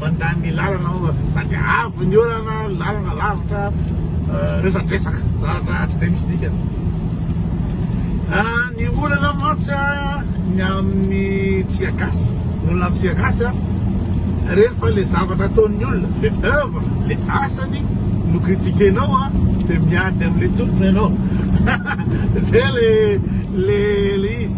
Mandany ny lalana aho fa sady avo ny orana, ny lalana lavitra, resadresaka, zavatra tsy dia misy dikany. Ny olana mantsy ny amin'ny Tsiagasy, ny olana amin'ny Tsiagasy rehefa ilay zavatra ataon'ny olona, ilay oeuvre, ilay asany no critiquer-nao dia miady amin'ilay tompony ianao. Izay ilay ilay izy.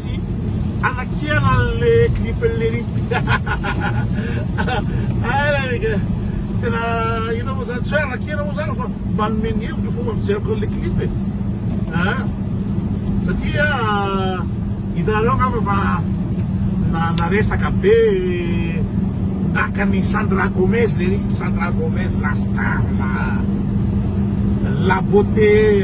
Tsy anakihana le clip an'i Léry Hahahaha Tena inona moa zany, tsy hoe anakihana moa zany fa manome ny hevitro fomba fijeriko an'le clip e Aa satria hitanareo angamba fa naresaka be naka an'i Sandra Gomez Léry, Sandra Gomez la star, la beauté.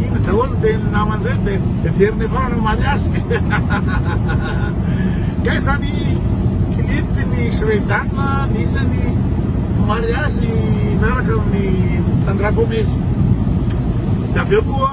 Inona daholo ny tenin'ny namany ireny dia heveriny avy ao no hamaly azy. Kay zany clip ny Shredan nisy ny hamaly azy miaraka amin'ny Sandra Gomez. Dia avy eo koa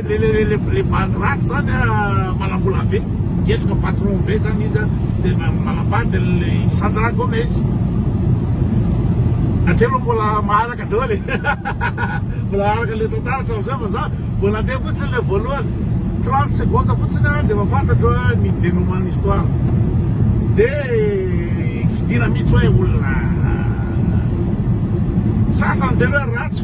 Le le le le le bandy ratsy zany a manambola be migetroka patron be zany izy a de manambady le Sandra Gomez hatreho aloha mbola maharaka daholo e mbola maharaka le tantara hatramizay fa za vao nandeha fotsiny le voalohany 30 secondes fotsiny a de mafantatro a ny dénouement histoire de fidina mihitsy hoe olona satrany tena hoe ratsy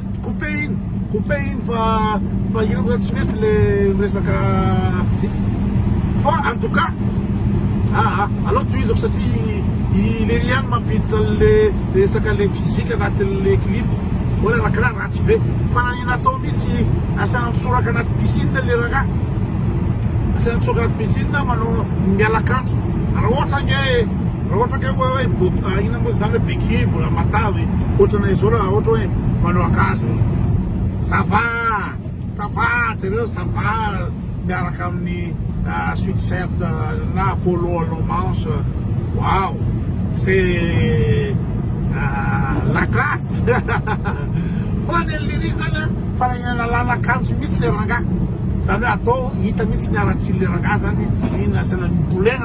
Couper-iny, couper-iny fa fa io nga tsy mety le resaka physique fa en tout cas aa aleo tohizako satria i lery ihany mampiditra anle resaka le physique anatinle clip hoy le rakiraha ratsy be fa nanina atao mitsy asaina mitsoraka anaty piscine le rangah asaina mitsoraka anaty piscine manao miala kanto raha ohatra nge Raha ohatra ka hoe hoe bo- ah, inona moa izany hoe béquille mbola matavy e. Ohatra anay izao raha ohatra hoe manao akanjo ça va ça va jereo ça va miaraka amin'ny ah, sweatshirt ah, na polo à long manche waouh c'est ah, la classe fa ny an'lery zany a fananana làlan-kanjo mihitsy le rangahy zany hoe atao hita mihitsy ny aratsian'le rangahy zany iny asiana mibolegna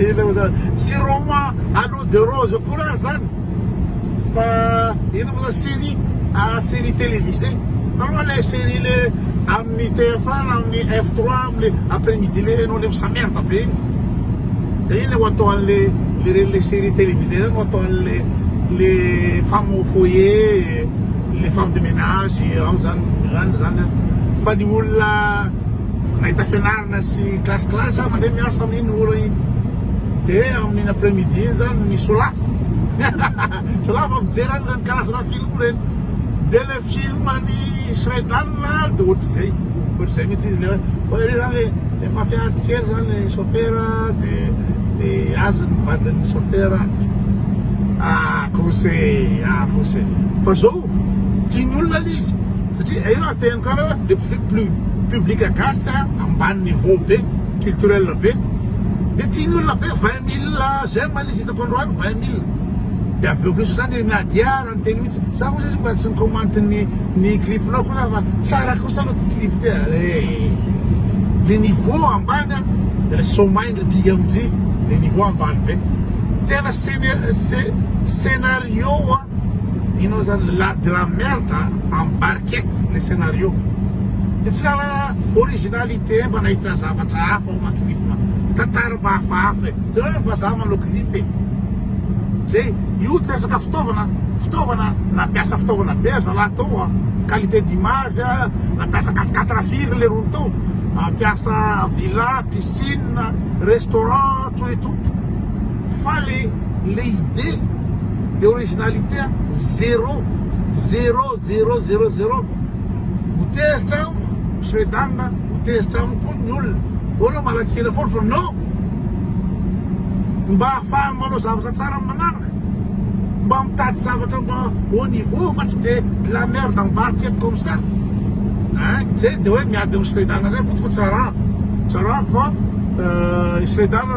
Inona moa zany? Tsy roman à l'eau de rose akory ary zany fa inona moa zany? Série ah série télévisée taloha le série le amin'ny TF1 na amin'ny F3 amin'ny après midi le ianao le misamerde be igny de igny le ho atao an'le le reny le série télévisée reny ho atao an'le le femme au foyer le femme de ménage ao zany zany zany fa ny olona mahita fianarana sy classe classe aho mandeha miasa amin'iny ora iny dia amin'iny après midi iny zany ny solafa solafa mijery any zany karazana film ireny dia le film any Shredan dia ohatr'izay ohatr'izay mihitsy izy le hoe hoe iry zany le mafia ady kely zany le chauffeur dia dia azy ny vadin'ny chauffeur ah kose ah kose fa zao tian'olona le izy satria hay raha te hankara le public gasy ambaniny haut be culturel be de tian'olona be vingt mille j'aime le izy hitako androany vingt mille de avy eo kosa zany na dia ary ny teny mintsy za ozy mba tsy ni-comment ny ny clip-nao ko za fa tsara kosa aloha ty clip ty ary ee le niveau ambany a de le somay ndray pmj le niveau ambany be tena scena- scenario a. Inona zany la de la merde en barquette le scénario de tsy nanana originalité mba nahita zavatra hafa ao anaty clip ny tantara mba hafahafa e jereo ny vazaha manao clip e zay io tsy resaka fitaovana fitaovana nampiasa fitaovana be ry zalahy tao a qualité d'image a nampiasa quatre quatre firy le rony tao nampiasa villa piscine restaurant tout et tout Fa le le idée, le originalité a zero, zero, zero, zero, zero, ho tezitra amiko Shredang a, ho tezitra amiko koa ny olona, mbô anao malaky hira foana fa non! mba ahafahany manao zavatra tsara amin'ny manaraka, mba mitady zavatra mba haut niveau fa tsy dia de la merde embarque eto comme ça ein! zay dia hoe miady amin'ny Shredang indray koto fa tsy arahako, tsy arahako fa i Shredang.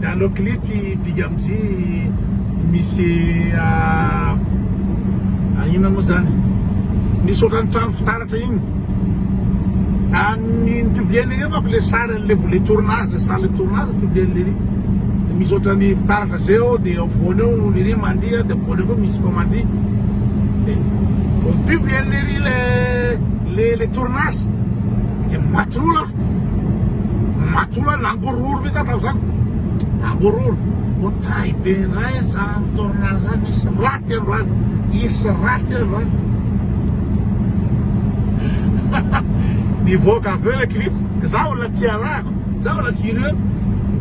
Dalo klipy big up J misy an inona moa zany misy ohatran'ny trano fitaratra iny an ni-publier an'ireo manko le sary an'le volet tournage le salle de tournage publier an'le iry de misy ohatran'ny fitaratra zay ao de eo afovoany eo iry mandihy de afovoany eo koa misy koa mandihy de vao mi-publier an'le iry le le tournage de maty loha Matoa hoe langororo mihitsy aho tamin'izany, langororo. Otahy be indray izany tournant izany, hisy ratsy androany, hisy ratsy androany. Nivoaka avy eo ilay clip, izaho mbola tsy arahako, izaho mbola curieux,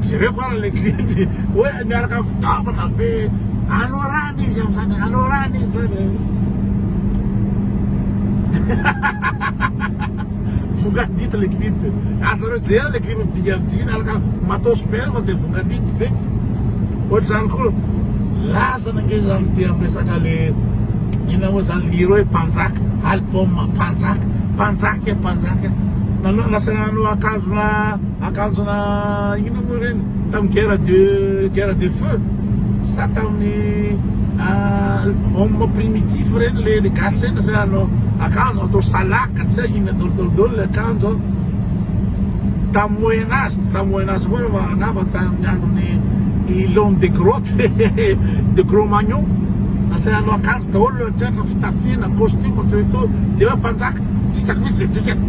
jereko ary ilay clip, hoe miaraka amin'ny fitaovana be, anorana izy amin'izany, anorana izy izany e. Vongadity le clip e. Azonareo jerena le clip Big Up Jina alaka matos perm de vongadity be. Ohatr'izany koa lazana ange izany ty am resaka le inona moa zany liro hoe mpanjaka album mpanjaka mpanjaka mpanjaka nanao lasa nanao akanjona akanjona inona moa ireny tam guerre de guerre de feu. Sa tamin'ny homme primitif ireny le ny gasy ireny zay hanao akanjo atao salaka tsy hay inona daholo daholo daholo le akanjo an. Tamin'ny moyen age, tsy tamin'ny moyen age koa fa angamba tamin'ny andron'i i l'homme de grotte de gros magnon, lasa hanao akanjo daholo tratra fitafiana costume toy itony, de hoe mpanjaka. Tsy hitako mihitsy izay dikany.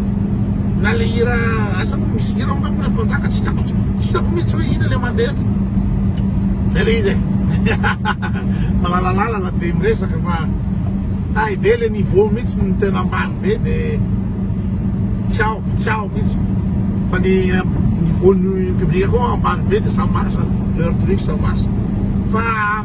Na le hira asa moa misy hira ao angamba le mpanjaka tsy hitako tsy hitako mihitsy hoe ina le mandeha eto. Zay le izy e. Malalalala be miresaka fa tay be le niveau mihitsy no tena ambany be de tsy ao tsy ao mihitsy. Fa ny niveau ny public koa ambany be de ça marche leur truc ça marche. Fa